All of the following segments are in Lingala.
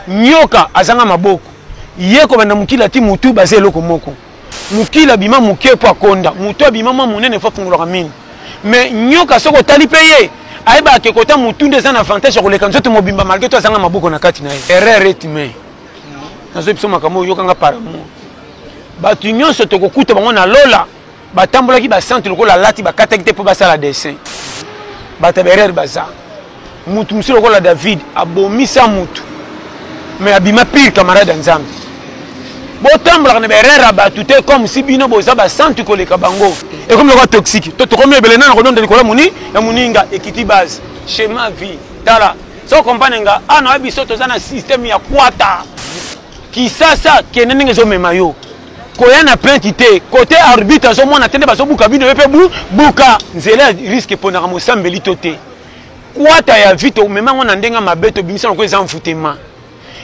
Nyoka azanga maboko. Ye kobanda mokili ati mutu baza eloko moko. Mokili abima moke po akonda. Mutu abima mwa monene po afungolaka minu. Mais nyoka soki otali pe ye, ayebaka ke kota mutu nde eza na avantage ya koleka nzoto mobimba malgre tout azanga maboko na kati na ye. Erreur est humain. Nazo yebisa yo makambo oyo, yoka nga par amour. Batu nionso tokokuta bango na lola. batambolaki basantu lokola alati bakataki te mpo basala dessin bato ya berere baza motu mosusu lokola david abomisa motu me abima pire camarade ya nzambe botambolaka na berere ya bato te comme si bino boza basantu koleka bango ekomi lokola toxique to tokomi ebele nana kodonda likolo moni ya moninga ekiti base chema vie tala so kompane nga awa ah, na biso toza na systeme ya kwata kisasa kende ndenge ezomema yo koya na plainte te kote arbitre azomona te nde bazobuka bino yo mpe bu buka nzela ya riske eponaka mosambeli to te kwata ya vite omema yango na ndenge mabe tobimisa noko eza mfutema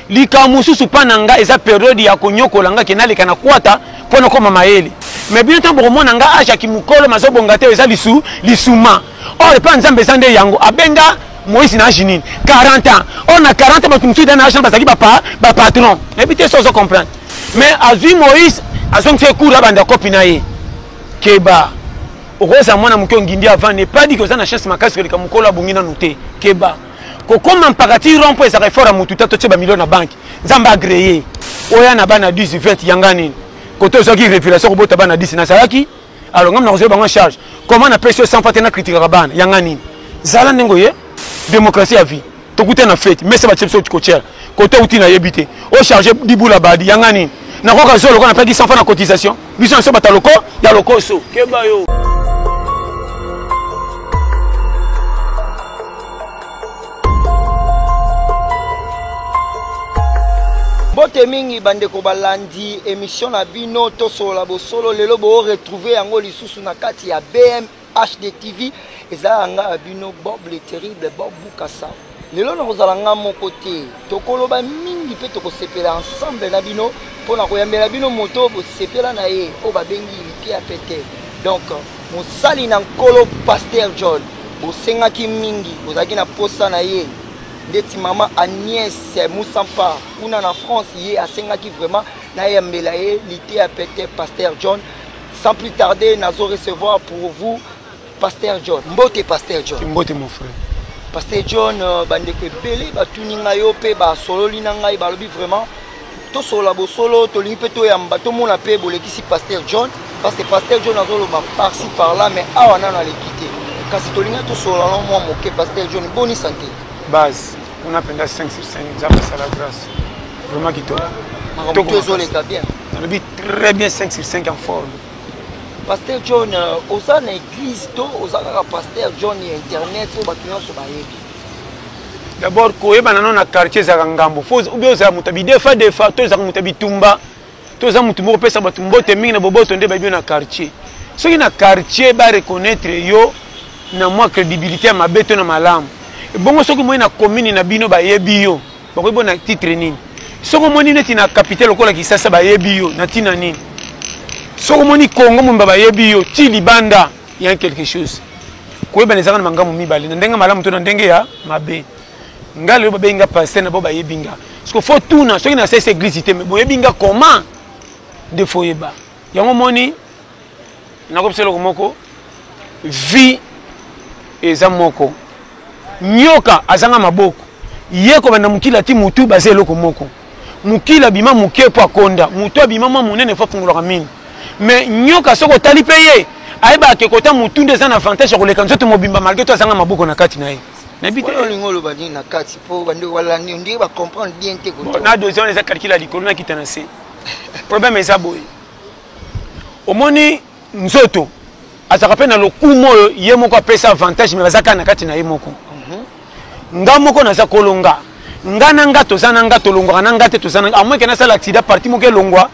likambo mosusu mpa na ngai eza periode ya konyokola ngai ke naleka na kwata mpo nakoma mayele me bino ntango bokomona ngai age ya kimokolo mazobonga te eza lisu lisuma or epai nzambe eza nde yango abenga moïse na age nini 40 ans or na 40 bato mosusu eza na age na bazalaki bapatron nayebi te so ozo comprendre mais azwi moïse azongisa ye cour abanda kopi na ye keba okozala mwana moke ongindi avant ne pas dike oza na chance makasi koleka mokolo abongi nanu te keba kokoma mpakati rond mpo ezalaka effort ya motu te totye bamilio na banke nzambe agreye oya na bana 10 20 yanga nini kote ozwaki révélation kobota bana 10 nazalaki alors ngai nakozwa bango charge comment napesi yo sans pas te na critikaka bana yanga nini zala ndenge oye démocratie ya vie tokuta na fete mese batie biso kotyela kote outi nayebi te ocharge dibula badi yanga nini nakoka zo lokola napeki 100 fois na cotisation biso na biso bata loko ya lokoso keba yo mbote mingi bandeko balandi emission na bino tosolola bosolo lelo boo retrouve yango lisusu na kati ya bm hd tv ezalaka ngai ya bino bob le terrible bob bukasa lelo nakozala ngai moko te Tokoloba mingi mpe tokosepela ensemble na bino mpo na koyambela bino moto oyo bosepela na ye oyo babengi liteya pete. Donc mosali na nkolo Pasteur John bosengaki mingi, bozalaki na posa na ye ndeti mama Agnès Moussampa kuna na France, ye asengaki vraiment nayambela ye liteya pete Pasteur John. Sans plus tarder, nazo recevoir pour vous Pasteur John, mbote Pasteur John. Mbote mon frère. Pasteur John, euh, bandeko ebele batuni ngai yo mpe basololi na ngai balobi vraiment tosolola bosolo tolingi mpe toyamba tomona mpe bolekisi Pasteur John parce que Pasteur John azoloba parci par là mais awa nano aleki te kasi tolingi tosolola na mwa moke Pasteur John boni sante base kuna mpenza 5 sur 5 nzambe asala grâce vraiment kitoko makambo ezoleka bien nalobi très bien 5 sur 5 en forme Pasteur John, euh, oza na église to oza kaka pasteur John ya internet oyo bato nyonso bayebi? D'abord koyebana no na quartier ezalaka ngambo fo obi ozala moto ya bidefa defa to ezalaka moto ya bitumba to oza moto moko opesa bato mbote mingi na boboto nde bayebi yo na quartier soki na quartier ba reconnaître yo na mwa crédibilité ya mabe to na malamu ebongo soki moi na commune na bino bayebi yo bakoki bo na titre nini soki omoni neti na kapitale lokola kisasa bayebi yo na ntina nini soki omoni kongo momba bayebi yo ti libanda ya quelque chose koyebana ezaka na mangambo mibale na ndenge malamu to na ndenge ya mabe ngai lelo babengi nga paster na bo bayebi nga parceke fo tuna soki nasesi eglise te me boyebi nga comment nde foyeba yango omoni nakobisa eloko moko vie eza moko nyoka azanga maboko ye kobanda mokili ati motu baza eloko moko mokili abima moke mpo akonda motu abima mwa monene mpo afungolaka mini me nyoka soki otali mpe ye ayebaka ke kota motu nde eza na avantage ya koleka nzoto mobimba malgre to azanga maboko na kati na ye nayebi te olingi oloba nini na kati mpo bande walandi ondire bacomprendre bien te na deuxième eza calcule ya likolo nakita na se problème eza boye omoni nzoto azalaka mpe na lokumu oyo ye moko apesa avantage me baza kaka na kati na ye moko mhm. nga moko naza kolonga nga na nga toza na nga tolongwaka na nga te toza na nga amoyeke nasala aksida parti moko elongwa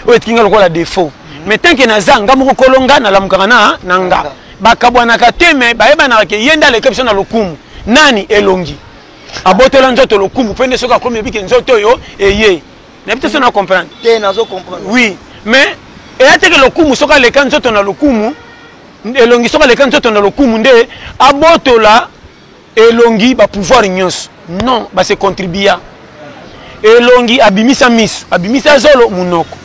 oyo etiki nga lokola defaut mhm. mais tanke naza nga moko kolonga nalamukaka na na nga bakabwanaka te me bayebanaka ke ye nde aleki biso na lokumu nani elongi abotola nzoto lokumu mpe nde soki akomi ebike nzoto oyo eye nayebi te so na comprendre te nazo comprendre oui mais eya teke lokumu soki aleka nzoto na lokumu elongi soki aleka nzoto na lokumu nde abotola elongi bapouvoir nyonso non base contribua elongi abimisa miso abimisa zolo monoko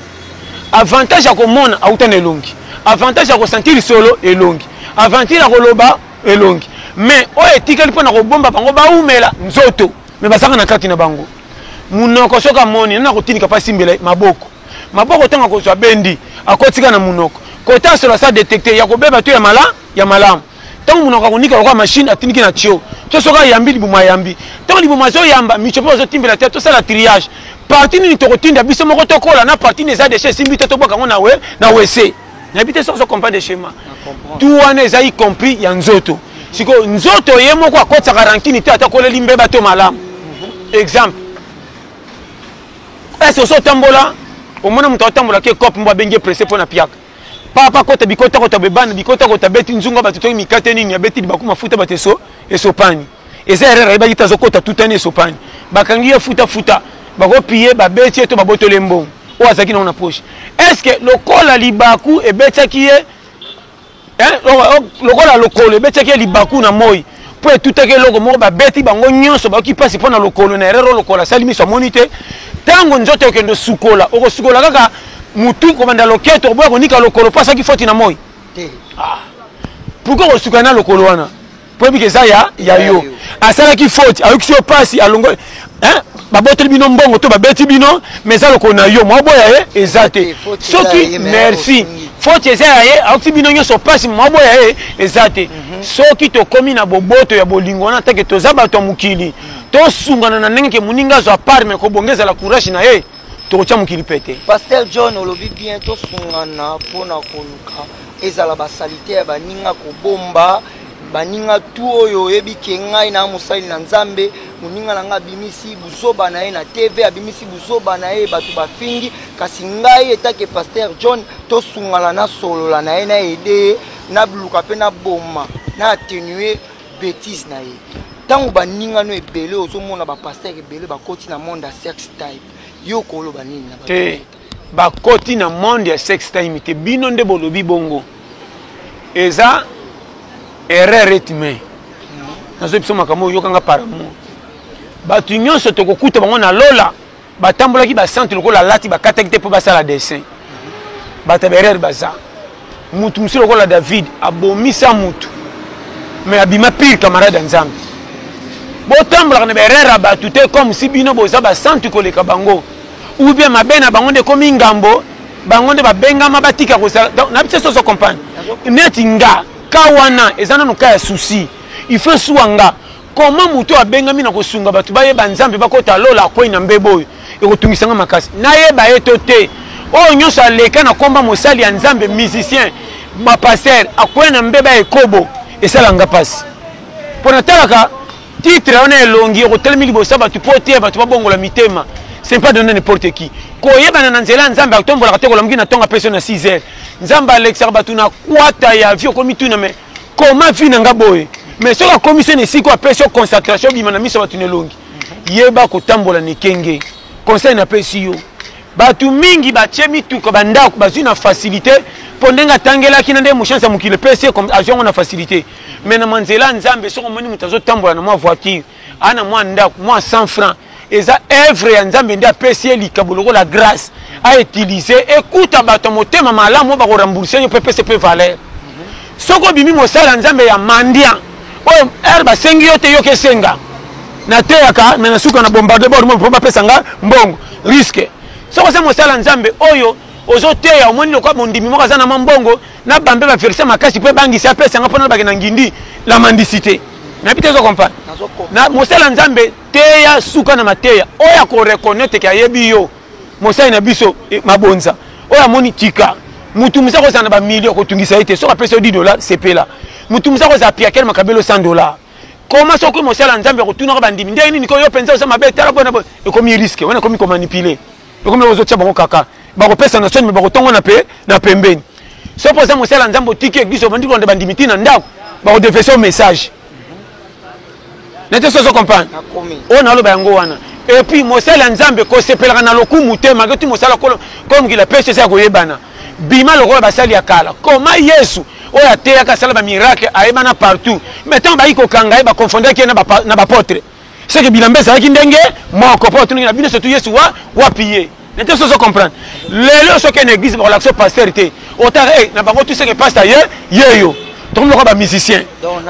avantage ya komona auta na elongi avantage ya kosentir lisolo elongi avantage ya koloba elongi mais oyo etikali mpo na kobomba bango baumela nzoto me bazalaka na kati na bango munoko soki amoni nani akotinika mpe asimbela maboko maboko ntango akozwa bendi akotika na munoko kota solo asa detecte ya kobeba to ya mala ya malamu ntango munoko akonika lokola machine atiniki na tio to soki ayambi libumu ayambi ntango libumu azoyamba mico mpe bazotimbela te tosala triage parti nini tokotinda biso moko tokola na parti nini eza deshe esimbi te tobwaka yango na wese nayebi te soki ozo comprendre schéma tout wana eza y compris ya nzoto sikoyo nzoto ye moko akotisaka rankini te ata koleli mbeba to malamu mhm. exemple ese oso otambola omona moto atambola ke cope mbo abengi presse mpo na piaka papa kota bikota kota bebana bikota kota beti nzunga bato toki mikate nini abeti libaku mafuta bato eso esopani eza erreur ayebaki te azokota tutani esopani bakangi ye futafuta bakopiye babeti ye to babotoli ye mbongo oyo azalaki nango na poche est ce que lokola libaku ebetaki ye lokola lokolo ebetaki ye libaku na moi mpo etutaki eloko moko babeti bango nyonso bayoki mpasi mpo na lokolo na erreur lokola asali miso amoni te ntango nzoto okende osukola okosukola kaka motu kobanda loketo oboya konika lokolo mpo asaki foti na moi ah. pourkui okosuka na lokolo wana oyebi ke eza ya ya yo asalaki faute ayokisi yo mpasi alongoli baboteli bino mbongo to babeti bino mais eza lokolo na yo mwaboya ye eza te soki merci faute eza ya ye ayokisi bino nyonso mpasi mwaboya ye eza te mhm. soki tokomi na boboto ya bolingo wana take toza bato ya mokili tosungana na ndenge ke moninga azwa part me kobonga ezala courage na ye tokotya mokili pete pasteur john olobi bien tosungana mpo na koluka ezala basalite ya baninga kobomba baninga tu oyo oyebi ke ngai na mosali na nzambe moninga na ngai abimisi buzoba na ye na tv abimisi buzoba na ye bato bafingi kasi ngai etake paster john tosungana nasolola na ye na ede ye naluka mpe naboma na attenue bétise na ye ntango baninga no ebele ozomona bapaster ebele bakoti na monde ya sex type yo okoloba nini na bakoti na monde ya sex time te bino nde bolobi bongo eza erreur etime nazoyi biso makambo oyokanga par amour bato nyonso tokokuta bango na lola batambolaki basantu lokola alati bakataki te mpo basala dessin bato ya baerreur baza mutu mosusu lokola david abomisa mutu me abima pire camarade ya nzambe botambolaka na baerreur ya bato te comme si bino boza basantu koleka bango ou bien mabe na bango nde ekomi ngambo bango nde babengama batika kosala na biso soso comprendre neti nga ka wana eza nano ka ya souci il faut esuwa nga Comment moto oyo abengami na kosunga bato bayeba Nzambe bakota lola akwei na mbeba oyo ekotungisa nga makasi nayeba ye to te oyo nyonso aleka na komba mosali ya Nzambe musicien bapaster akwei na mbeba ya ekobo esala nga mpasi mpo natalaka titre wana elongi okotelemi liboso ya bato mpo oteya bato babongola mitema c'est pas donner n'importe qui koyebana na nzela ya nzambe atombolaka te kolamuki na ntongo apeso na 6 heures nzambe alekisaka bato na kwata ya vie okomituna me koma vie na nga boye mais soki akomisi na esika apesi yo concentration obima na miso bato na elongi yeba kotambola na ekenge conseil napesi yo bato mingi batye mituka bandako bazwi na facilité mpo ndenge atangelaki na nde mochanse ya mokili epesi azwi yango na facilité mais na manzela ya nzambe soki omoni moto azotambola na mwa voiture ana mwa ndako mwa 100 francs eza evre ya nzambe nde apesi ye likabo lokola grâce autilize ekuta bato ya motema malamu oyo bakorembourse yo mpe pese mpe valeur soki obimi mosala ya nzambe ya mandian oyo ere basengi yo te yoka esenga nateyaka me na suka na bombarde bord mpo bapesa nga mbongo riske soki oza mosala ya nzambe oyo ozoteya omoni lokola mondimi moko aza na mwa mbongo na bambe ba verse makasi mpo ebangisa apesa nga mpo nalobake na ngindi la mendicité nayebi te ezo comprendre na mosala nzambe teya suka na mateya oyo akoreconnaitre ke ayebi yo mosali na biso eh, mabonza oyo amoni tika motu mosa kozala na bamilio kotungisa ye te soki apesi yo 10 dollar sepela motu mosa kozala piakele makabelo 100 dollar koma soki mosala nzambe akotunaka bandimi ndenge nini ko yo mpenza oza mabe tala boye na boye ekomi riske wana ekomi komanipule ekomi ozotya bango kaka bakopesa na soni me bakotongona mpe na pembeni soki oza mosala nzambe otiki eglise obandi kolanda bandimi ti na ndako bakodefese message nete so ozo comprendre oyo naloba yango wana epuis mosala ya nzambe kosepelaka na lokumu te malgre ti mosala kolo mokili apesi eza ya koyebana bima lokola basali ya kala koma yesu oyo ateyaka asala bamiracle ayebana partout mai ntango bayaki kokanga ye bakonfondaki ye na bapotre seke bilamba ezalaki ndenge moko mpo batunaki na bino sotu yesu wa wapi ye nete sozo comprendre lelo soki na église bakolakisa pasteur te otaka e eh, na bango tuseke paster ye ye yo tokomi lokola bamusicien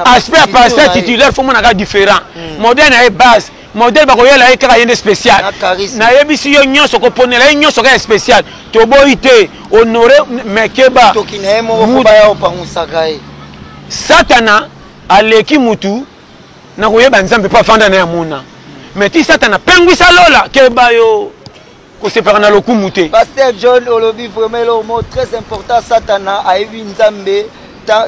aspect ya pasteur titulaire fo monaka différent hmm. modèle na ye base modèle bakoyela ye kaka ye nde spécial nayebisi yo nyonso koponela ye nyonso kaka spécial toboyi te honore mekeba satana aleki mutu na koyeba nzambe mpo afanda na ye amona me ti satana apengwisa lola keba yo kosepaka na lokumu te paster john olobi vraiment eloko moko très important satana ayebi nzambe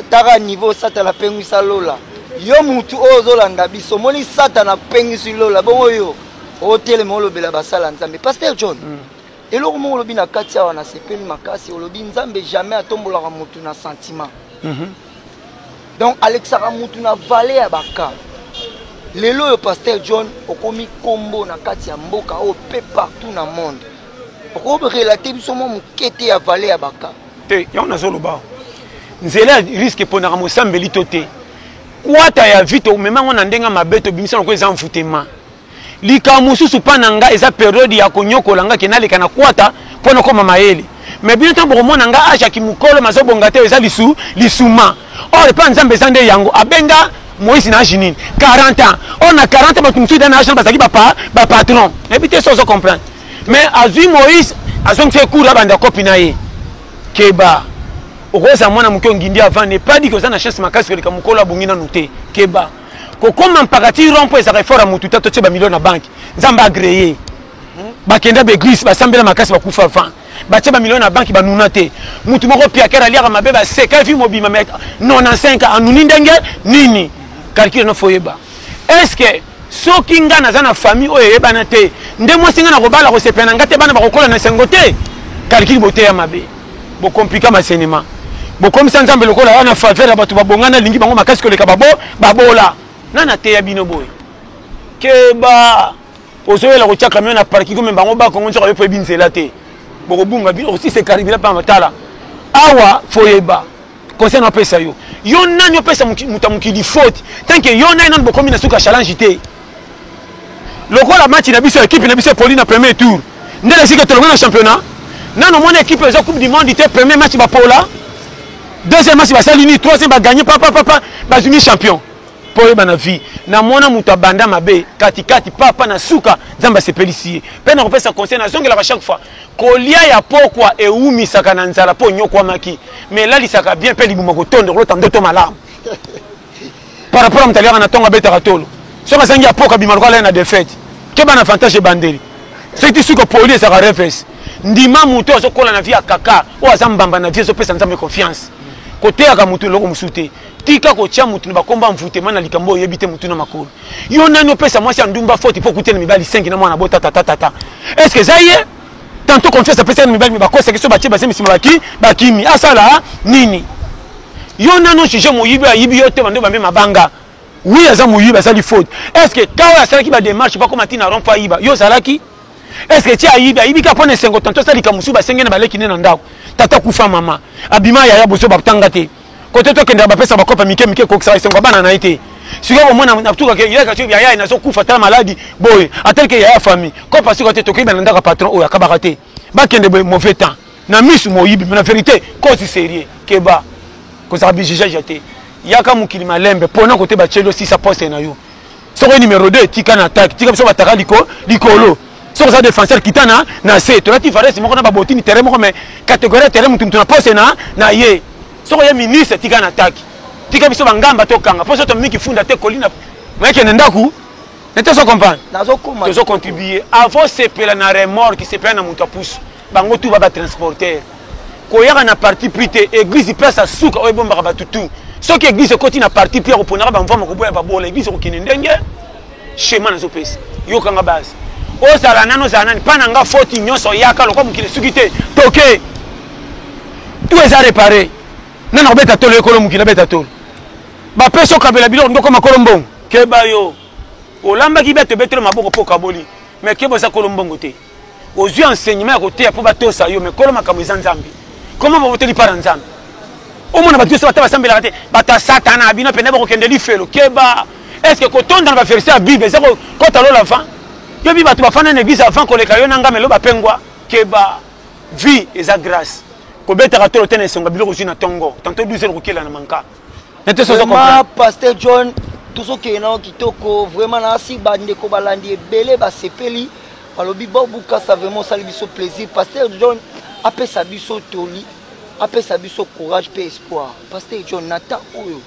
taka niveau satana apengwisa lola yo mutu oyo ozolanda biso omoni satana apengisi lola bongo yo otelema olobela basala nzambe paster john mm. eloko moko olobi na kati awa nasepeli makasi olobi nzambe jamais atombolaka motu na sentiment mm -hmm. donc alekisaka mutu na vale ya baka lelo oyo pasteur john okomi kombo na kati ya mboka oyo pe partout na monde okorelate biso mwa moke te ya vale ya baka te yango nazoloba nzela ya riske eponaka mosambeli to te kwata ya vito omema yango na ndenge mabe tobimisa yango eza mvutema Likambo mosusu mpa na nga eza periode ya konyokola nga ke naleka na kwata mpo nakoma mayele me bino ntango bokomona nga age ya kimokolo mazobonga te eza lisu lisuma or epa nzambe eza nde yango abenga moïse na age nini 40 ans or na 40 bato mosusu eza na age na bazalaki bapa bapatron nayebi te so ozo comprendre mais azwi moïse azongisi ye cour abanda kopi na ye keba okozala mwana moke ongindi avandi epadi ke oza na chance makasi koleka mokolo abongi nanu te keba kokoma mpakati rond point ezalaka effort ya motu te totie bamilio na banke nzambe agreye bakenda baeglise basambela makasi bakufa van batie bamilio na banke banuna te motu moko piakere aliaka mabe baseka vi mobima me 95 anuni ndenge nini calcule no foyeba est ce que soki ngai naza na famille oyo eyebana te nde mwasi ngai nakobala kosepela na ngai te bana bakokola na esengo te calcule boteya mabe Bo compliquer ma cinéma. Bo komisa Nzambe lokola ya na faveur ya bato babongana lingi bango makasi koleka babo babola. Nani ateya bino boye? Keba. Ozoyela kotia camion na parking komema bango ba Kongo nzoka yo poyebi nzela te. Bokobunga bino aussi c'est caribila pa matala. Awa foyeba. conseil na pesa yo yo nani opesa moto ya mokili faute tanke yo nani nani bokomi na suki ya challenge te lokola match na biso ekipe na biso epoli na premier tour nde lesike tolongi na championnat nano omoni ekipe eza coupe du monde te premier match bapola deuxième match basali nini troisième baganye papapapa bazwimi champion mpo oyeba na vie namona moto abanda mabe katikati papa na suka nzambe asepelisi ye mpe nakopesa conseil nazongelaka chaque fois Kolia ya pokwa ewumisaka na nzala mpo onyokwamaki, mais elalisaka bien mpe libumu akotonda okolota ndoto malamu. Par rapport ya moto aliaka na ntongo abetaka tolo, soki azangi ya pokwa abima lokola alali na defaite. Keba na avantage ebandeli, soki ti suka poli ezalaka reverse. Ndima moto oyo azokola na vie ya kaka, oyo aza mbamba na vie, ezopesa Nzambe confiance. Koteyaka moto eloko mosusu te, tika kotya moto na bakombo ya envoutement na likambo oyo oyebi te motu na makolo. yo nani opesa mwasi ya ndumba foti mpo okuteli mibali sengi na mwana bota tata tata estce eza ye tanto confiance apesa na mibali bakosaki so batie base misima baki bakimi asala nini yo nani ojuge moyibi ayibi yo te bando bambe mabanga wi aza moyibi asali faute estce ka oyo asalaki bademarche bakoma ntina rompo ayiba yo ozalaki estce ti ayibi ayibi ka mpo na esengo tanto asala likambo mosusu basenge na baleki nde na ndako tata kufa mama abima yaya bozo batanga te kote tokendaka bapesa bakope mike mike kokisaka esengo ya bana na ye te sikoyo bomona natukaka yaya nazokufa tala maladi boye atalike yaya famille kope asikoka te tokoyeba na ndako ya patron oyo akabaka te bakende boye mauvais temps na misu moyibi na verité kosi serie keba kozala bijugeage te yaka mokili malembe mpona kote batyeli osisa poste na yo soki numero 2 tika na attaque tika biso bataka liko likolo soki oza défenseur kita na na se tolati varese moko na babotini terrain moko mais catégorie ya terrain motu motu na poste na na ye soki oye ministre tika na attaque tika biso bangamba tokanga mpo so tomi kifunda te kolina mayekende ndako nete ozo comprendre tozo contribue avant sepela na remorque sepela na moto ya pusu bango tu baba transporter koyaka na parti pris te eglise ipesa suka oyo ebombaka bato tu soki eglise ekoti na parti pris ya koponaka bamvama koboya babola eglise ekokende ndenge shema nazopesa yokanga base ozala nani ozala nani mpa na nga foti nyonso yaka lokwa mokili esuki te toke tu eza repare nani akobeta tolo ekolo mokili abeta tolo bapesi okabela biloko ndoko makolo mbongo keba yo olambaki beto ebetelo maboko mpo okaboli me keba oza kolo mbongo te ozwi enseignement ya koteya mpo batosa yo mekolo makambo eza nzambe koma babotoli mpa na nzambe omona bato nyonso bata basambelaka te bato ya satana bino mpenza bakokende lifelo keba estce kotonda na baverse ya bible eza kokota lola van yobi bato bafanda na eglise avant koleka yo na ngai melo bapengwa keba vie eza grace kobetaka tolo te na esonga biloko ozwi na ntongo tanto 12 heure kokela na manka vraiment pasteur john tozokende nao kitoko vraiment nasi bandeko balandi ebele basepeli balobi bobukasa vraiment osali biso plaisir pasteur john apesa biso toli apesa biso courage mpe espoir pasteur john na temps oyo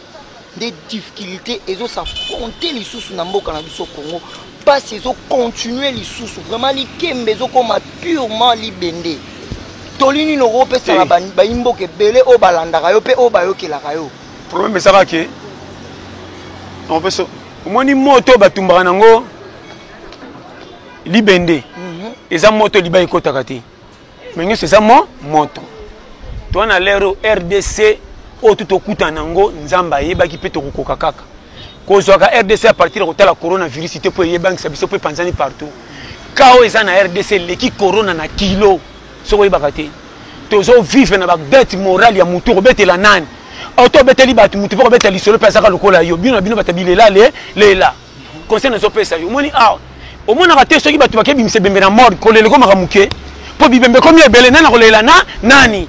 nde difficulté ezosafronte lisusu na mboka na biso congo pasi ezo continuer lisusu vraiment likembe ezokoma purement libende toli nini okopesa na bayimboka ebele oyo balandaka yo mpe oyo bayokelaka yo problème ezaka ke omoni moto oyo batumbaka nango libende mhm. eza moto liba ekotaka te Mais nyoso eza mo moto. Toi na lero RDC oyo tout okuta nango Nzambe ayebaki pe tokokoka kaka. Kozwaka RDC à partir ya kotala coronavirus te po eyebangisa biso pe panzani partout. Kao eza na RDC leki corona na kilo. Soko yebaka te. Tozo vivre na ba dette morale ya mutu kobetela nani? Auto beteli batu mutu pe kobetela lisolo pe azaka lokola yo. Bino na bino batabilela le lela. conseil nazo pesa yo omoni awa omonaka te soki bato bake bimisa ebembe na mort kolela ekomaka moke mpo bibembe ekomi ebele nani akolela na nani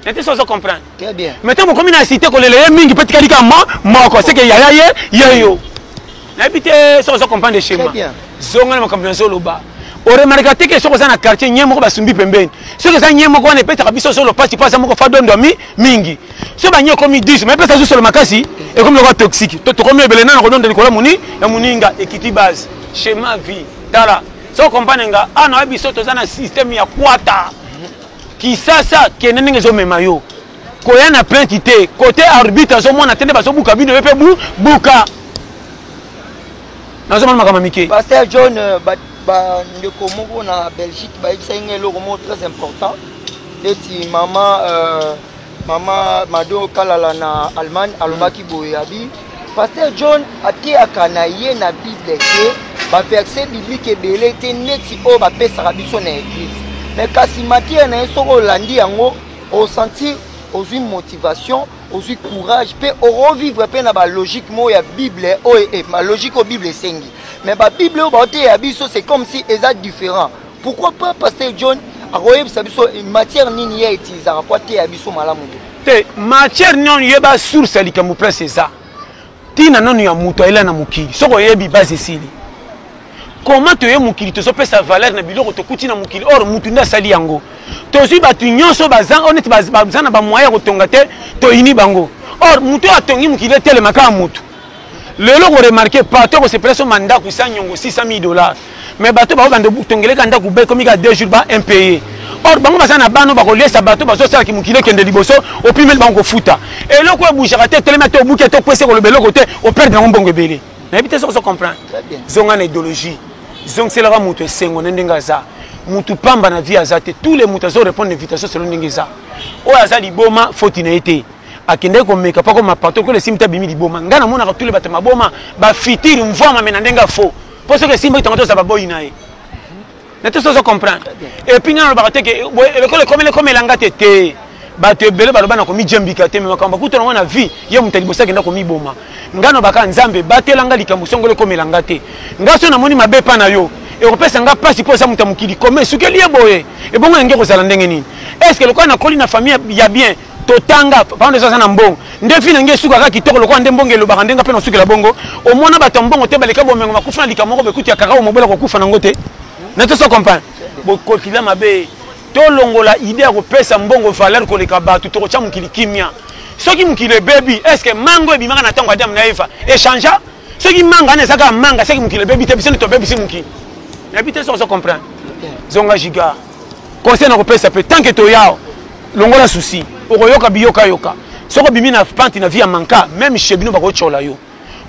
nete sozo comprendre mais ntango okomi na site kolela ye mingi mpe tikali kaka mo moko seke yaya ye ye yo nayebi te soki ozo comprendre schéma zonga na makambo nazoloba oremarka te ke soki oza na quartier nye moko basumbi pembeni soki eza nye moko wana epesaka biso solo mpasi mpo aza moko fadondwami mingi so bangi ekomi 10 mais pesa zusolo makasi ekomi lokola toxique to tokomi ebele nana kodonda likolo moni ya moninga ekiti base schéma vie tala so comprendre nga a na biso toza na système ya kwata kisasa kende ndenge ezomema yo koya na plainte te kote arbitre azomona te nde bazobuka bino yo mpe bu buka nazomona makambo mike paster john euh, bandeko ba, moko na belgique bayebisaki nga eloko moko très important neti mama euh, Mama Mado Kalala na Allemagne alobaki mm. boye abi Pasteur John ateyaka na ye na Bible te ba verset biblique ebele te neti oyo bapesaka biso na eglise mais kasi matière na ye soki olandi yango osentir ozwi motivation ozwi courage mpe okovivre mpe na balogique moko ya bible oyo eh, balogique oyo bible esengi mais babible oyo baoteya biso c'est comme si eza différent Pourquoi pas Pasteur John akoyebisa biso matière nini ye utilisaka mpo ateya biso malamu te te matière niono yeba source ya likambo place eza ntina nano ya moto ayela na mokili soki oyebi base esili koma toye mokili tozopesa valeur na biloko tokuti na mokili or motu nde asali yango tozwi bato nyonso baza oyo neti baza na bamoyen ya kotonga te toyini bango or moto oyo atongi mokili etelema kaka motu lelo ko remarquer partout ko sepela so mandaku sa nyongo 600000 dollars mais bato bao bande tongeleka ndaku ba ekomi ka 2 jours ba impaye or bango baza na bana bakoliesa bato bazosala kimokili ekende liboso opimeli bango kofuta eloko ebujaka te etelemi ate obuki ate okwesi koloba eloko te operde yango mbongo ebele nayebi te soki ozo comprendre zonga na idéologie zongiselaka moto esengo na ndenge aza mutu pamba na vie aza te tous les mutu azo répondre invitation selon ndenge eza oyo aza liboma foti na ye te akendaki komeka pako mapato lokola esimbi te abimi liboma ngai namonaka tule bato maboma bafitire mvwama me na ndenge ya faux mpo soki esimbaki tongo toza baboyi na ye na te sozo comprendre epuis ngai nalobaka te ke lokola ekomeli ekomela nga te te bato ebele baloba na komijambika te me makambo bakuta nango na vie ye moto ya liboso akenda komiboma ngai nalobaka nzambe batela nga likambo songolo ekomela nga te ngai soki namoni mabe epa na yo ekopesa nga mpasi mpo eza moto ya mokili koma esukeli ye boye ebongo yange ekozala ndenge nini estce lokola nakoli na famille ya bien totanga papa ndeso aza na mbongo nde vi na nge esukaka kitoko lokola nde mbongo elobaka nde nga mpe nasukela bongo omona bato ya mbongo te baleka bomengo bakufa na likambo moko bakuti ya kakao mobela kokufa nango te na toso comprendre bokotila mabe tolongola ide ya kopesa mbongo valeur koleka bato tokotya mokili kimia soki mokili ebebi estce mango ebimaka na ntango adamu na eva echangea soki manga wana eza kaka manga soki mokili ebebi te biso nde tobebisi mokili nayebi te soki ozo comprendre zonga giga conseil nakopesa mpe tant ke toyao longola souci okoyoka biyokayoka soki obimi na pante na vie ya manka meme chez bino bakotyola yo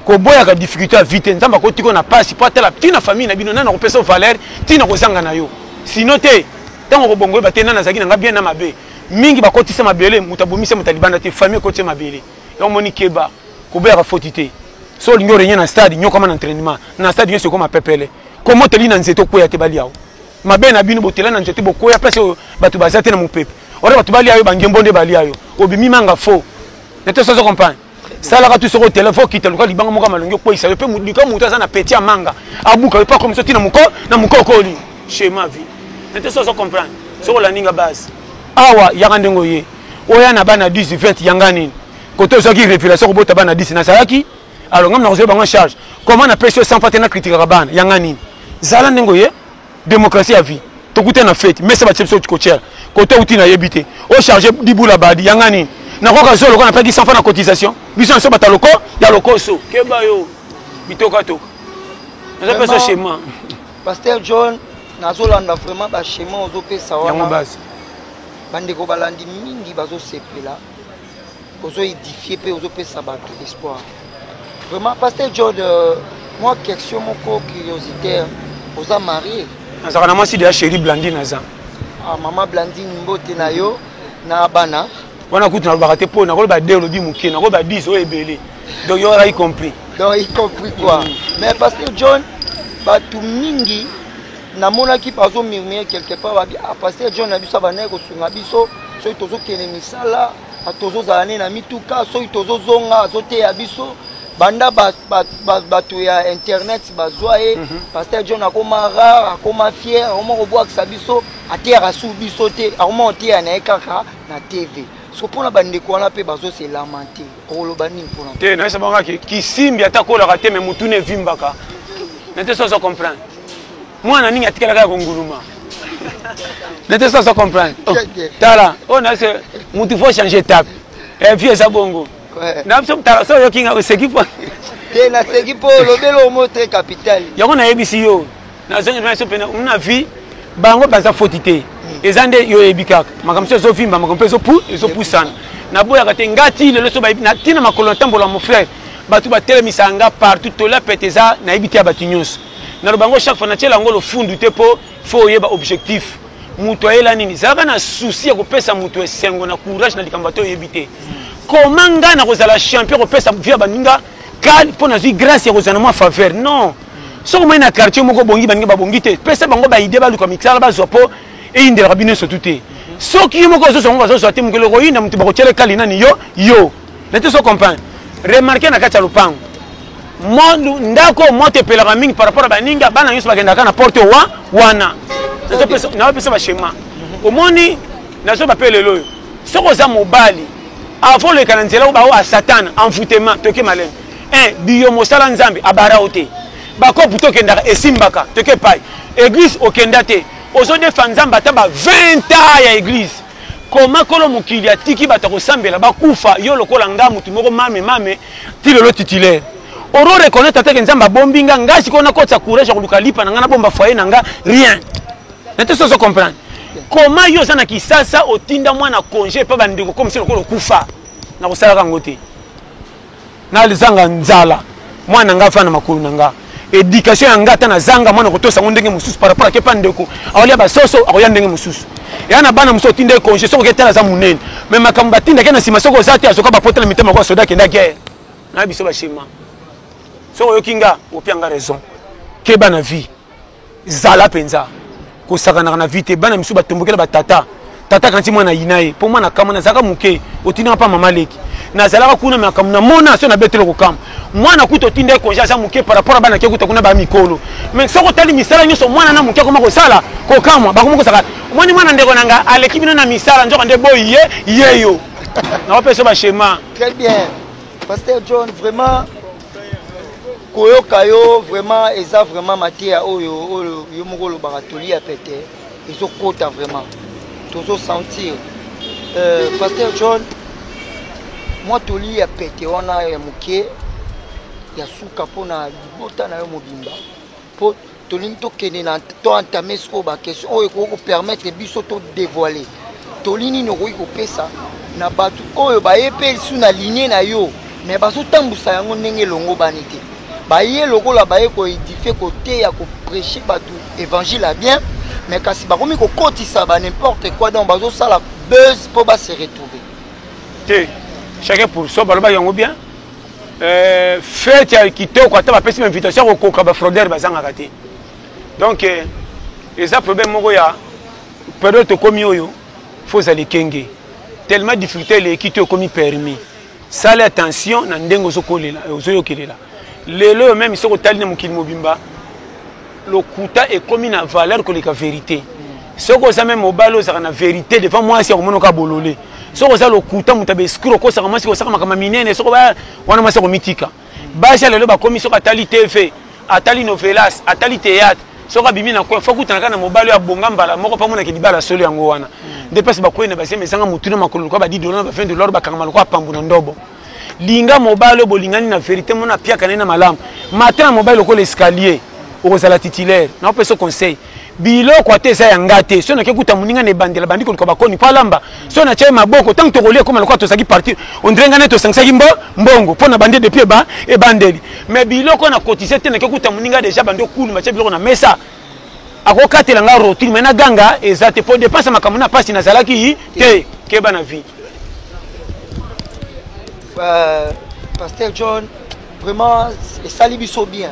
koboyaka difficulté ya vie te nzambe akotiko na mpasi mpo atala ntina famille na bino nani akopesa yo valeur ntina kozanga na yo sino te ntango okobongo oyeba te nani azalaki na ngai bien na mabe mingi bakotisa mabele moto abomisa moto alibanda te famille ekotisa mabele yango omoni keba kobeyaka foti te so olingi orenye na stade nyokama na entraînement na stade nyonso ekoma pepele koma oteli na nzete okweya te balia yo mabe na bino botela na nzete bokweya place oyo bato baza te na mopepe ora bato balia yo bangembo nde balia yo obimi manga fo na te sozo comprendre salaka tu soko otela fo okita luka libanga moko malongi okweisa yo mpe luka moto aza na peti ya manga abuka yo mpe akomisa ti na moko na mokokoli chema vie na te sozo comprendre soko olandi nga base awa yaka ndenge oye oya na bana 10 20 yanga nini koto ozwaki révélation kobota bana 10 nazalaki alors ngai nakozwa bango charge comment napesi yo 100 fois te na critikaka bana yanga nini zala ndenge oye démocratie ya vie tokuta na fete mesa batie biso kotiela koto outi nayebi te o charge dibula badi yanga nini nakoka zo lokola napaki 100 fois na cotisation biso nyonso bata loko ya lokoso keba yo bitokatoka naza pesa schéma pasteur john nazolanda vraiment baschema ozopesa wana bandeko balandi mingi bazosepela ozo edifie mpe ozopesa bato espoir vraiment pasteur john euh, mwa question moko curiositaire oza marie nazalaka na mwasi deya chéri blandine aza ah, mama blandine mbote na yo na bana wana kutu nalobaka te mpo nakoloba de olobi moke nakoloba dis oyo ebele donc yo y compris donc y compris quoi mm. mais pasteur john bato mingi namonaki bazo murmure quelque part babi ah, paster john na biso abandaki kosunga biso soki tozokende misala ah, tozozala ne na mituka soki tozozonga azoteya biso banda bato ya internet bazwa ye mhm. paster john akoma rare akoma fier akoma kobwakisa biso ateyaka su biso te akoma koteya na ye kaka na tv so mpona bandeko wana mpe bazoselamante okoloba nini mpona te nayesa bango ake kisimbi ata kolaka te me motuna evimbaka na te soso comprendre mwana ningi atikalaka ya konguluma na te soso comprendre oh, tala oyo oh, nase motu faut change etape evi eh, eza bongo na biso motala so oyokinga oseki po te naseki mpo olobeli omo te capital yango nayebisi yo nazongi biso mpe na vie bango baza foti te hmm. eza nde yo oyebi kaka makambo so ezovimba makambo mpe ezopu ezopusana naboyaka te nga ti lelo so bayebi natina makolo natambola mon frère bato batelemisaka nga partout tola pete eza nayebi te ya bato nyonso naloba yango chaque fois natyela yango lofundu te mpo fo oyeba objectif moto ayela nini zalaka na susi ya kopesa moto esengo na courage na likambo ata oyebi te hmm. koma ngai nakozala champion kopesa vie ya baninga Cal mpo nazwi grace ya kozala na mwa faveur non soki omai na quartier moko bongi baninga babongi te pesa bango baide baluka misala bazwa mpo eyindelaka bino nyonso tu te soki yo moko ozozwa yango bazozwa te mokili okoyinda moto bakotyela ekali nani yo yo na te so comprendre remarke na kati ya lopango ndako oyo moto epelaka mingi par rapport ya baninga bana nyonso bakendaka na porte wa wana naopesa bashema omoni nazoba mpe lelo oyo soki oza mobali Avant oleka na nzela ba oa Satan envoûtement toke malin. Eh biyo mosala Nzambe abara ote. Ba kopu to kendaka esimbaka toke pai. Église okenda te. Ozo defa Nzambe ata ba 20 ans ya église. Koma kolo mokili atiki bato kosambela bakufa yo lokola nga mutu moko mame mame ti lelo titulaire. Oro reconnaître atake Nzambe abombi nga nga sikoyo nakotisa courage ya koluka lipa na nga nabomba foyer na nga rien. na te sozo comprendre koma yo oza na kisasa otinda mwana congé epa bandeko komisi lokola okufa na kosalaka yango te nazanga nzala mwana nga afana makolo na nga éducation ya nga ata nazanga mwana kotosa yango ndenge mosusu par rapport ake pa ndeko akolia basoso akoya ndenge mosusu eya na bana mosusu otinda ye congé soki oketala aza monene mais makambo batindaki na nsima soki oza te azoka bapota na mitema kwa soda akenda guerre na biso bashema soki oyoki nga opia nga raison keba na vie zala mpenza kosakanaka na vie te bana misusu batombokela batata tata kanti mwana yina ye mpo mwana kama nazalaka moke otindaka mpa mama leki nazalaka kuna makambo na mona so nabetelo kokama mwana kuta otinda ye konja aza moke par rapport a bana ke kuta kuna baya mikolo mai soki otali misala nyonso mwana na moke akoma kosala kokamwa bakoma kosaka omoni mwana ndeko na nga aleki bino na misala nzoka nde boyi ye ye yo naopesa bashema très bien pasteur john vraiment koyoka yo vraiment eza vraiment mateya oyo oyo yo moko olobaka toli ya pete ezokota vraiment tozosentir euh, paster john mwa toli ya pete wana ya moke ya suka mpo na libota na yo mobimba mpo tolingi tokende na to entame sikoyo baquestion oyo ekoki kopermettre biso to dévoile toli nini okoki kopesa na bato oyo baye mpe lisu na linie na yo me bazotambusa yango ndenge elongobani te baye lokola baye koedifie koteya kopreche bato évangile ya bien me kasi bakomi kokotisa ba n'importe quoi donc bazosala buzz mpo base retrouve te chacun pour so balobaki yango bien Euh, fete ya kitoko ata bapesi bainvitation ya kokoka bafrodere bazangaka te donc euh, eza problème moko ya periode tokomi oyo fo ozala ekenge tellement difficulté eleki to ekomi permis sala attention na ndenge ozokolela ozoyokelela lelo oyo meme soki otali na mokili mobimba lokuta ekomi na valeur koleka verite soki oza meme mobali ozalaka na verite devant mwasi ya komonoka bolole soki oza lokuta moto ya baescur okosaka mwasi kosaka makambo minene soki wana mwasi akomitika basi ya lelo bakomi soki atali tv atali novelas atali théâtre soki abimi na coin fokutanaka na mobali oyo abonga mbala moko mpo amonaki libala solo yango wana nde place bakwei na basema ezanga motuna makolo lokola badidolo na ba 20 dollar bakangama lokola pambo na ndobo linga mobali oyo bolingani na verite mona apiaka naye na malamu mata na mobali lokola escalier okozala titulaire naopesa conseil biloko ata eza ya nga te soki nake kuta moninga na ebandela bandi koluka bakoni mpo alamba soki natya ye maboko ntango tokolia ekoma lokola tozalaki parti ondire ngai nde tosangisaki mbo mbongo mpo na bande depuis eba ebandeli mais biloko na kotise te nake kuta moninga deja bandi okuluma tya biloko na mesa akokatela nga rotine me naganga eza te mpo depense ya makambo na mpasi nazalaki te keba na vie euh, pasteur john vraiment esali biso bien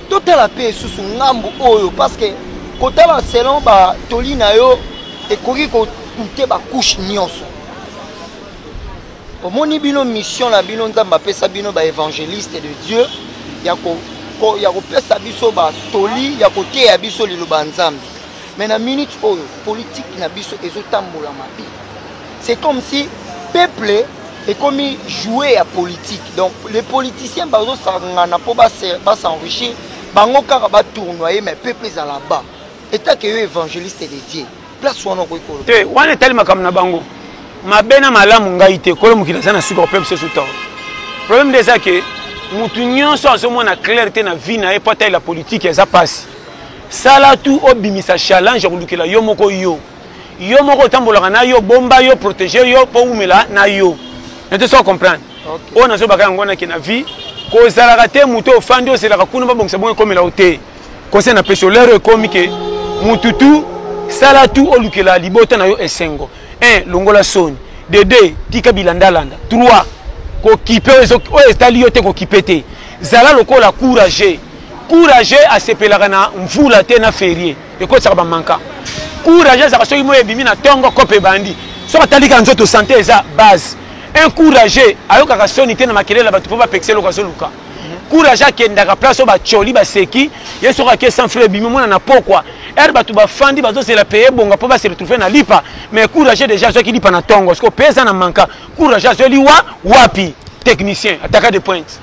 totala mpe esusu ngambu oyo parce que kotala selon batoli na yo ekoki kokute bacouche nyonso Omoni bino mission na bino nzambe apesa bino ba evangeliste de Dieu ya ko ya kopesa biso ba toli ya koteya biso liloba ya nzambe mais na minute oyo politique na biso ezotambola mabe c'est comme si peuple ekomi joue ya politique donc les politiciens bazosangana mpo basenrichir bango kaka batournoye mais peuple ezala bas etake yo évangéliste de dieu place wana okoki koloba te wana etali makambo na bango mabe na malamu ngai te kolo mokili aza na suka opepse su ntango problème nde eza ke motu nyonso azomona claire te na vie na ye mpo atalela politike eza mpasi sala tu obimisa challenge ya kolukela yo moko yo yo moko otambolaka na yo bomba yo protege yo mpo wumela na yo nete soko comprendre oyo nazobaka yango wana ke na vie kozalaka te moto ofandi ozelaka kuna babongisa bongo ekomela yo te Conseil na pesi olero ekomi ke mutu tu sala tu olukela libota na yo esengo. 1 longola soni. De 2 tika bilanda landa. 3 kokipe oyo etali yo te kokipe te. Zala lokola courage. Courage asepelaka na mvula te na ferie. Ekotisaka ba manka. Courage azaka soki moye ebimi na tongo kope ebandi. Soki atali ka nzoto sante eza base. Un courage ayokaka soni te na makelele ya batu po ba pekisa eloko azoluka. courage akendaka place oyo bacoli baseki ye soki ake sans frais ebimi mwana na pokwa ere bato bafandi bazozela peye ebonga mpo base retrouve na lipa mais courage déjà azwaki lipa na ntongo siko peye eza na manka courage azwi liwa wapi technicien ataka de pointe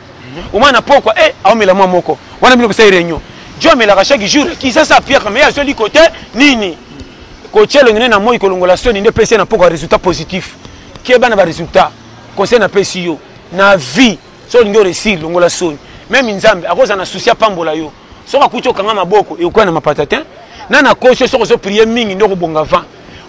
omwana na pokwa e aomela mwa moko wana bino kosali réunion jo amelaka chaque jour kisasa apiaka mais azwi liko te nini kotia elongi ne na moi kolongola soni nde pesi ye na pokwa résultat positif keba na baresultat conseil napesi yo na vie so olingi oresir longola soni meme nzambe akozala na susi apambola yo soki akuti okanga maboko ekokwea na mapata te na na kosi yo soki ozoprie mingi nde okobonga vent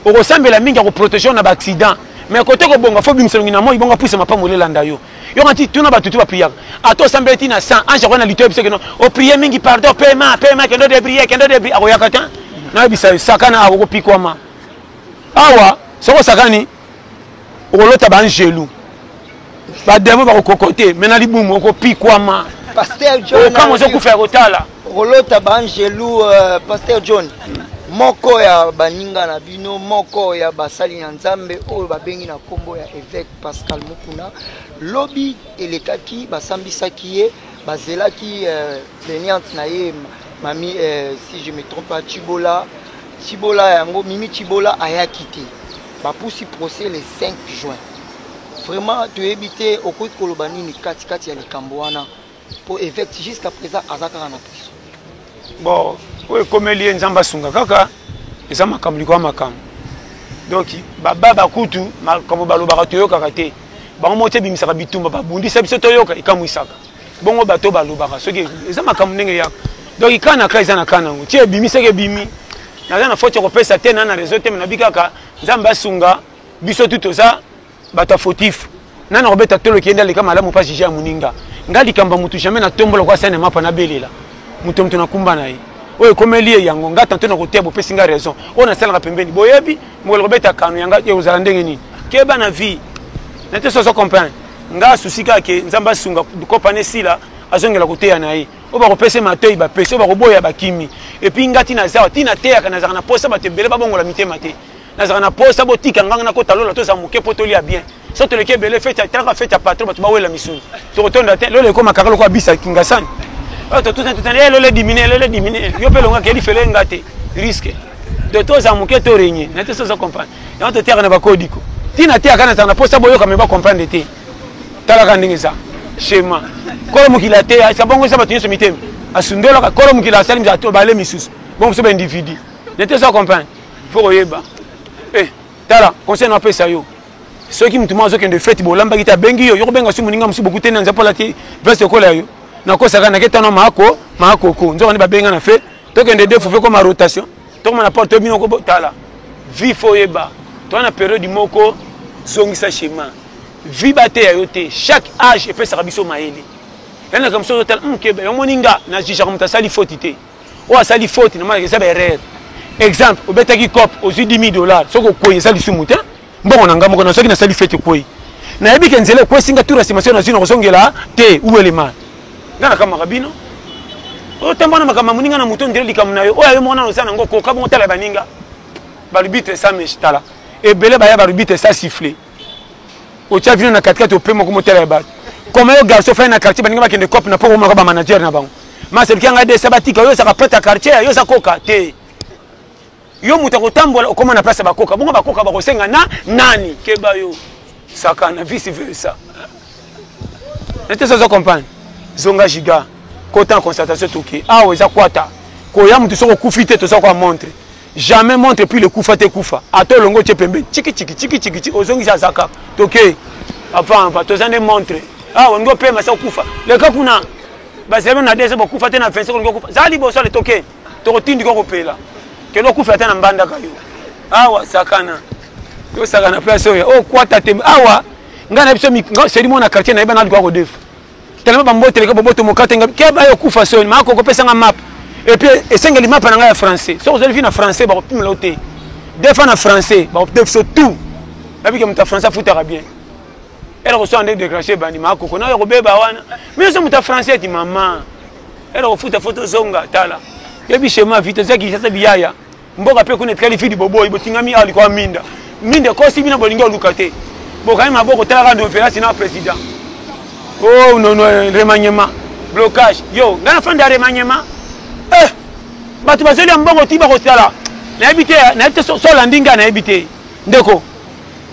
okosambela mingi akoprotege yo na baaccident mais kote kobonga fo bimisa longi na moi bongo apuisa mapambo lelanda yo yoka nti tuna bato tu bapriaka ata osambeli ti na 100 ange akoya na lito yebisa keno oprie mingi pardon pema pema kendo debrie kendo debrie akoyaka te nayebisa yo sakana akokopikwama awa soki osakani okolota ba angelu ba demon bakokokote me na libumu okopikwama okama ozokufa ya kotala okolota ba angelu uh, euh, paster john moko ya baninga na bino moko ya basali na nzambe oyo babengi na nkombo ya evêque pascal mokuna lobi elekaki basambisaki ye bazelaki uh, plaignante na ye mami uh, si je me trompe chibola Tshibola yango Mimi Tshibola ayaki te. Bapusi procès le 5 juin. Vraiment toyebi te okoki koloba nini kati kati ya likambo wana mpo évêque jusqu'à présent aza kaka na prison. Bon, oyo ekomeli ye Nzambe asunga kaka eza makambo likolo ya makambo. Donc baba bakutu makambo balobaka toyokaka te. Bango moko te ebimisaka bitumba babundisa biso toyoka ekamwisaka. bongo bato balobaka soki eza makambo ndenge ya donc kaa na kaa eza na kaa nango ti ebimi soki ebimi naza na foti ya kopesa te na na réseau te me nabi kaka nzambe asunga biso tu toza bato ya fautif na na kobeta tolo kende aleka malamu mpa jije ya moninga ngai likambo ya motu jamais natombola kwa sene mapa nabelela moto moto nakumba na ye oyo ekomeli ye yango ngai tanto na koteya bopesi ngai raison oyo nasalaka pembeni boyebi mokolo kobeta kano yanga te ozala ndenge nini keba na vie na te soso comprendre nga asusi kaka ke nzambe asunga kopana esila azongela koteya na ye oyo bakopesa matoi bapesi oyo bakoboya bakimi epuis nga ntina azawa ntina ateyaka nazalaka na mposa bato ebele babongola mitema te nazalaka na mposa botika nganga nakota lola tozala moke mpo tolia bien so toleki ebele fete talaka fete ya patron bato bawela misuni tokotonda te lola ekoma kaka lokola bisa kingasani oyo totutatutana e lola dimine lola dimine yo mpe elongaki elifele nga te riske to toza moke to renye na te soza comprendre yango toteyaka na bakodiko ntina teyaka na tanga mposa boyoka me bacomprendre te talaka ndenge eza shema kolo mokili ateya esa bongo eza bato nyonso mitema asundolaka kolo mokili asali bale misusu bongo biso baindividu na te soza comprendre fo koyeba Tala, conseil na pesa yo. Soki mutu moko azokende fete bolambaki te abengi yo, yo kobenga su moninga mosusu bokuti na nzambe olati veste ekola yo. Nakosaka nake tano maako maakoko. Nzoka nde babenga na fe. Tokende defu fe koma rotation. Tokoma na porte bino kobotala. Vie fo yeba. Toa na periode moko zongisa chemin. Vie bateya yo te. Chaque âge epesaka biso mayele. Yanaka mosusu otala, mkebe, omoni nga na jijaka moto asali foti te. oyo asali faute na manaka eza ba erreur exemple obetaki cop ozwi 10 dollars soki okwei eza lisumu te mbongo na ngai moko na soki nasali fete ekwei nayebi ke nzela ekwesi ngai tour ya sima soki nazwi na kozongela te uelema ngai nakamaka bino otemba na makambo ya moninga na moto ondele likambo na yo oyo ayo moko nano oza nango koka bongo tala baninga balubitre sa mesh tala ebele baya balubitre sa siffle otya vino na katikati ope moko motala ya bato koma yo garçon fai na quartier baninga bakende cope na mpo komaka bamanager na bango maselki yanga desa batika yo ezaka prete ya quartier yo eza koka te yo moto akotambola okoma na place ya bakoka bongo bakoka bakosenga na nani keba yo sakana vice versa nete sozo comprendre zonga giga kota na constatation toke awa eza kwata koya moto soki okufi te toza kwa montre jamais montre puis le kufa te kufa ata olongo tye pembeni chikitshiki chikitshiki ozongisi aza kaka toke apampa toza nde montre awa ah, olingi opema sa okufa leka kuna bazela na dese bokufa te na 25 olingi okufa zala liboso ale toke tokotindika okopela kende okufa ata na mbandaka yo awa ah, sakana tosakana place oyo okwata oh, te awa ah, ngai na biso seli mwana quartier nayeba naluka kodefa Telema ba mbote leka boboto mokate nga ke ba yo kufa soni ma ko kopesa nga map et puis esengeli map na nga ya français so ozali vie na français ba kopimela yo te des fois na français ba kopimela biso tout babi ke moto ya français afutaka bien ela kosala nde décrache ebandi ma koko na yo kobeba wana mi ozo moto ya français ati mama ela kofuta fo tozonga tala yebi chema vite ozaki sasa biyaya mboka mpe kuna etikali fidi boboyi botingami awa likolo ya minda minda ekosi bino bolingi oluka te bokangi maboko talaka novelasi na président o oh, nono remaniement blocage yo ngai nafandi ya remaniement eh bato bazeli ya mbongo ti bakosala nayebi te nayebi te solandi ngai nayebi te ndeko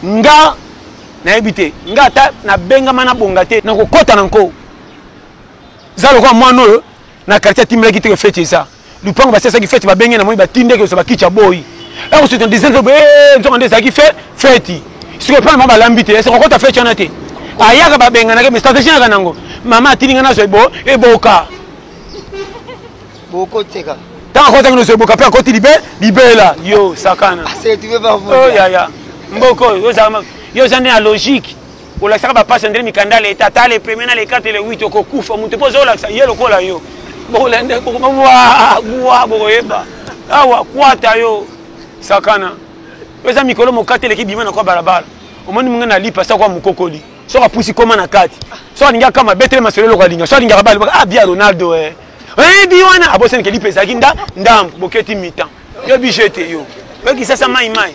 nga nayebi te nga ata nabengama nabonga te nakokɔta na nko za lokola mwana oyo na quartier atimbelaki te feti eza lupango basi asaki feti babenge na moi batinde ke osoba kicha boyi ekosita dizenzo boye eh, nzonga nde ezalaki fe feti sikoyo mpe mama balambi te esoko kota feti wana te ayaka babenganaka me stratégie naka nango mama atindi nga nazwa ebo eboka bokoteka ntango akotaki nozwa eboka mpe akoti libe libela yo sakana ah, oh, yaya mboko oyo yo oza nde na logique olakisaka bapasi andre mikanda leta ata le premier na le 4 le 8 okokufa moto mpo oza olakisa ye lokola yo bokolende bwa bokoyeba awa kwata yo sakana eza mikolo mokati eleki bima na kwa balabala omoni mongai na lipa sakwa mokokoli soki apusi koma na kati soki alingi akama betele masolo eloko alinga soki alingaka bale ah bia ronaldo eh. eyebi wana abosanike lipa ezalaki ndambo boketi mitan Yo biche te yo. Yo kisasa mai mai.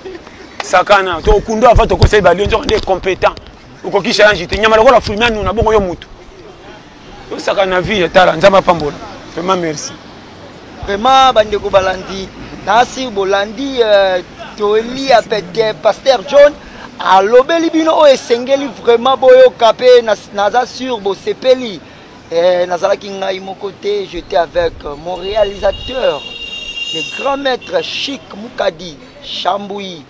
Sakana to kundo avant to conseil ba lion nzoko nde competent. Okoki challenge te nyama lokola fulmia nuna bongo yo mutu. Yo sakana vie ya tala nzama pambola. Vraiment merci. Vraiment bande ko balandi. Nasi bolandi euh, to eli ya pete pasteur John alobeli bino oyo esengeli vraiment boyoka mpe naza sur bosepeli Eh, nazalaki ngai moko te, j'étais avec mon réalisateur, le grand maître Chic Mukadi Chambouyi.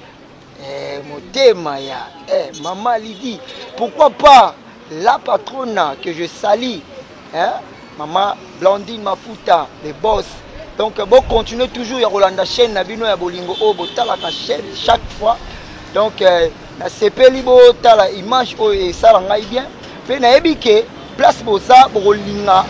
Eh, motema ya eh, mama Lydie, pourquoi pas la patrona que je salis, hein? mama Blandine Mafuta, le boss. Donc bon, continuez toujours ya kolanda chaîne na bino ya bolingo oyo botalaka chaîne chaque fois. Donc euh, Nasepeli botala image oyo esala ngai bien mpe nayebi ke place boza bokolinga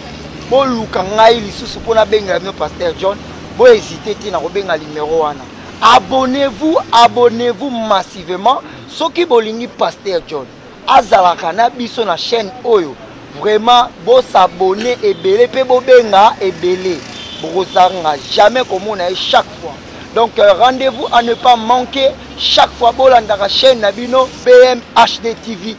boluka ngai lisusu mpo nabengela bino paster john bohésite te na kobenga limero wana abonnez-vous abonnez-vous massivement soki bolingi paster john azalaka na biso na chaîne oyo Vraiment bo s'abonner ebele pe bo benga ebele bokozanga jamais komona ye chaque fois donc euh, rendez-vous à ne pas manquer chaque fois bolandaka chaîne na bino BMHD TV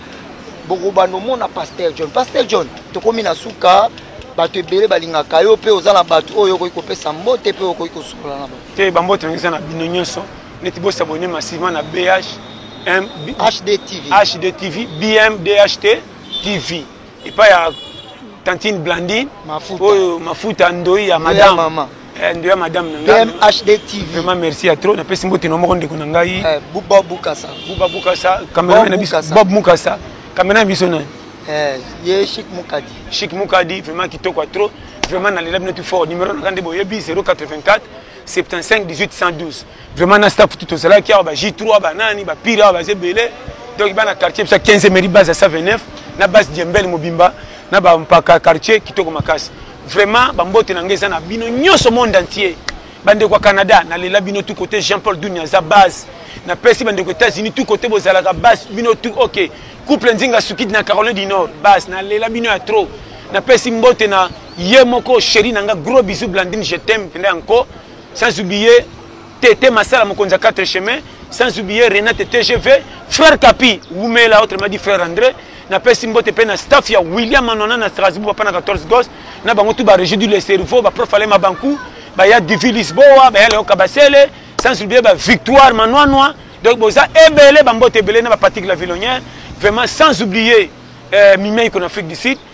bokobanda omona Pasteur John Pasteur John tokomi na suka bato ebele balingaka yo mpe oza na bato oyo okoki kopesa mbote mpe okoki kosukola na bango te bambote yango eza na bino nyonso neti bosabone masivement na bh HD TV. HD TV, BMDHT. TV epai ya tantine Blandine mafuta oyo mafuta ndoyi ya madame mama eh, ndoyi ya madame na ngai BMHD TV vraiment merci ya trop napesi mbote na moko ndeko na ngai eh, Buba Bukasa Buba Bukasa cameraman na biso Bob Mukasa cameraman na biso nani eh, ye Chic Mukadi Chic Mukadi vraiment kitoko ya trop vraiment nalela bino tout fort numéro na ngai nde boyebi 084 75 18 112 Vraiment na staff tout ozalaki awa ba J3 ba nani ba pire awa ba zebele donc bana quartier biso 15 mairie base ya 129 na base Diembel mobimba na ba mpaka quartier kitoko makasi. Vraiment ba mbote na ngai eza na bino nyonso monde entier. Bandeko ya Canada nalela bino tout côté Jean Paul Dunia aza base na pesi bandeko États-Unis tout côté bozalaka base bino tout ok couple nzinga sukidi na Caroline du Nord base nalela bino ya trop na pesi mbote na ye moko chéri na nga gros bisous Blandine je t'aime pende encore sans oublier Tete Masala mokonzi ya 4 chemin sans oublier Renate TGV frère Kapi wumela autrement dit frère André napesi mbote mpe na staff ya William Manona na Strasbourg papa na 14 gos na bango tout ba régie du le cerveau ba prof Alema Banku ba ya Divi Lisboa ba ya Leo Kabasele sans oublier ba Victoire Manwanwa donc boza ebele ba mbote ebele na ba Patrick la Villonnière vraiment sans oublier euh, Mimei en Afrique du Sud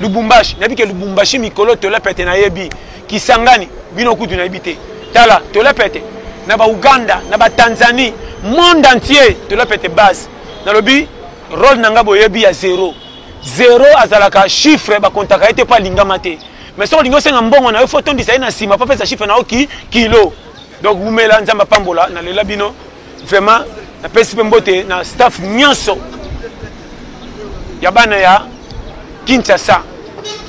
lubumbashi nayebi ke lubumbashi mikolo tolepete nayebi kisangani bino kutu nayebi te tala tolepete na bauganda na batanzanie monde entier tolepete base nalobi role na ngai boyebi ya zero zero azalaka chiffre bakontaka ye te mpo alingama te mais soki olingi osenga mbongo na yo fo otondisa ye na nsima mpo apesa chiffre na yo ki kilo donc wumela nzambe apambola nalela bino Vraiment, na pesi pe mbote na staff nyonso ya bana ya Kinshasa.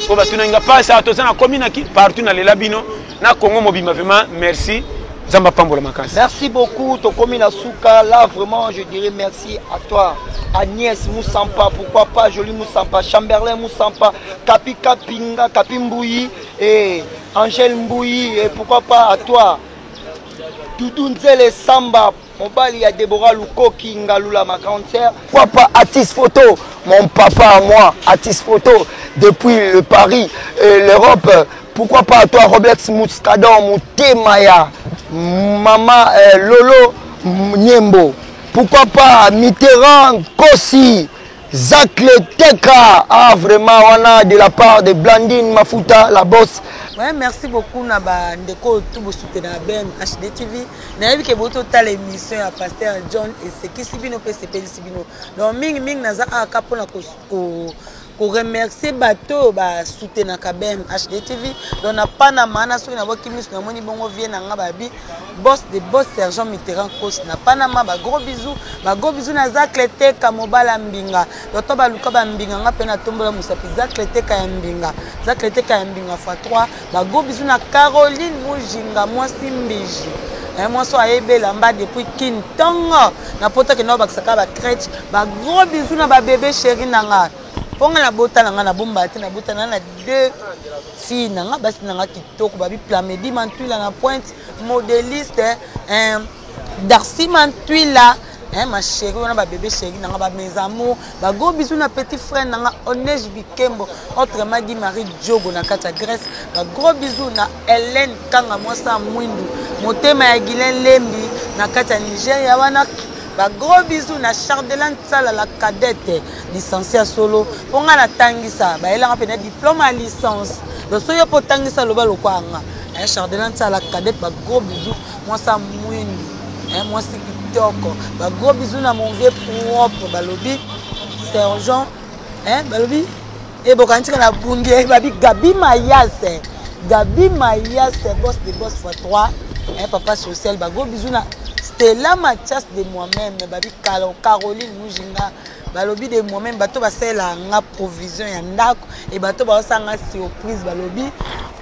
Ko batuna nga pasa toza na komi na partout na lela bino na Congo mobimba vraiment merci. Zamba pambola makasi. Merci beaucoup tokomi na suka là vraiment je dirais merci à toi. Agnès Moussampa, pourquoi pas Jolie Moussampa, Chamberlain Moussampa, Kapi Kapinga, Kapi Mbouyi, et Angèle Mbouyi, et pourquoi pas à toi Doudou Nzele Samba, mobali ya Deborah Lukoki Ngalula ma grande sœur. Papa artiste photo, mon papa à moi, artiste photo depuis le Paris et l'Europe. Pourquoi pas à toi Roberts Muscadon, Moutemaya, Maman euh, Lolo Niembo. Pourquoi pas Mitterrand Kossi Zacle Teka ah vraiment wana de la part de Blandine Mafuta la boss. Ouais, merci beaucoup na ba ndeko tout bo soutenir Ben HD TV. Na yebi ke boto tala émission ya pasteur John et c'est qui sibino pe c'est peli sibino. Donc mingi mingi naza aka pona ko, ko koremercie bato oyo basutenaka bm hd tv donc na panama na soki naboki miso namoni bongo vie na nga babi Boss de boss sergent Mitterrand Kos na Panama ba gros bisous ba gros bisous na Zacle Teka mobala mbinga doto ba luka ba mbinga nga pe na tombola musapi Zacle Teka ya mbinga Zacle Teka ya mbinga fois 3 ba gros bisous na Caroline Mujinga mwasi mbiji eh, mwasi oyo ayebi elamba depuis kin ntongo na poto akenda obakisaka ba crèche ba gros bisous na ba bebe chéri na nga mpo nga nabota na nga nabombaka te nabota na na deux Fille na nga basi na nga kitoko babi Plamedi Mantwila na pointe modeliste eh, Darcy Mantwila eh, ma chérie wana ba bébé chérie na nga ba mes amours ba gros bisous na petit frère na nga Onej Bikembo autrement dit Marie Diogo na kati ya Grèce ba gros bisous na Hélène Kanga mwasi ya mwindu motema ya Gilen Lembi na kati ya Nigeria wana ba gros bisous na Chardelan Sala la cadette Licencie ya solo po nga natangisa bayelanga mpe na diplome ya licence donc soki yo mpe otangisa loba lokwaa nga eh, chardelin tiala cadet bagros bisou mwasi ya mwindu eh, mwasi kitoko bagros bisou na mon vieux propre balobi sergent eh, balobi e bokangi tika na bundi eh, babi gabi mayase gabi mayase bos de bos fois 3 eh, papa social bagros bisou na stella matias de moi-même babi caroline mujinga balobi de moi meme bato basalela nga provision ya ndako e bato baosanga surprise balobi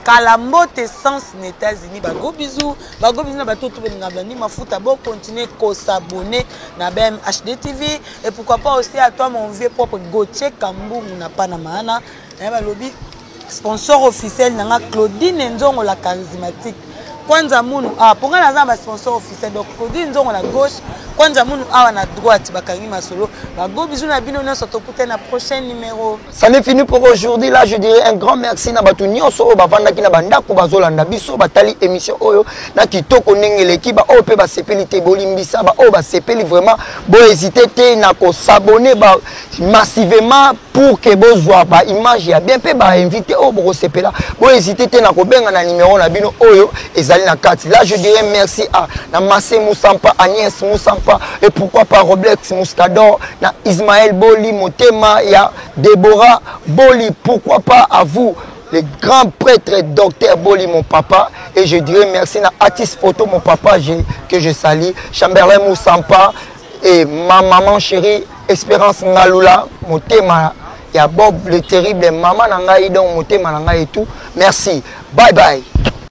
kala mbote sens na états-unis bago bizu bago bizu na bato tobelinga blandi mafuta bocontinue kosabone na bmhd tv et pourquoi pas aussi à toi mon vieux propre gautier kambungu na pana maana naye balobi Sponsor officiel na nga Claudine Nzongo la charismatique. Kwanza Munu awa ah, mpo ngai naza na basponsor officiel donc Claudine Nzongo na gauche Kwanza Munu awa na droite bakangi masolo bago bizu na bino nyonso tokutani na prochain numéro ça n'est fini pour aujourd'hui là je dirais un grand merci na bato nyonso oyo bavandaki na bandako bazolanda biso batali émission oyo na kitoko ndenge eleki baoyo mpe basepeli te bolimbisa baoyo basepeli vraiment bohésite te na kosabone ba massivement pour que bozwa ba image ya bien mpe ba invité oyo bokosepela bohésite te na kobenga na numero na bino oyo ezali na kati là je dirais merci à na masse musampa agnès musampa et pourquoi pas roblex muscador na ismaël boli motema ya deborah boli pourquoi pas à vous le grand prêtre docteur Boli, mon papa. Et je dirais merci à Atis Photo, mon papa, je, que je salue. Chamberlain Moussampa, Et ma maman chérie, Espérance Ngalula, motema ya Bob le terrible, maman na ngai donc motema na ngai et tout. Merci. Bye bye.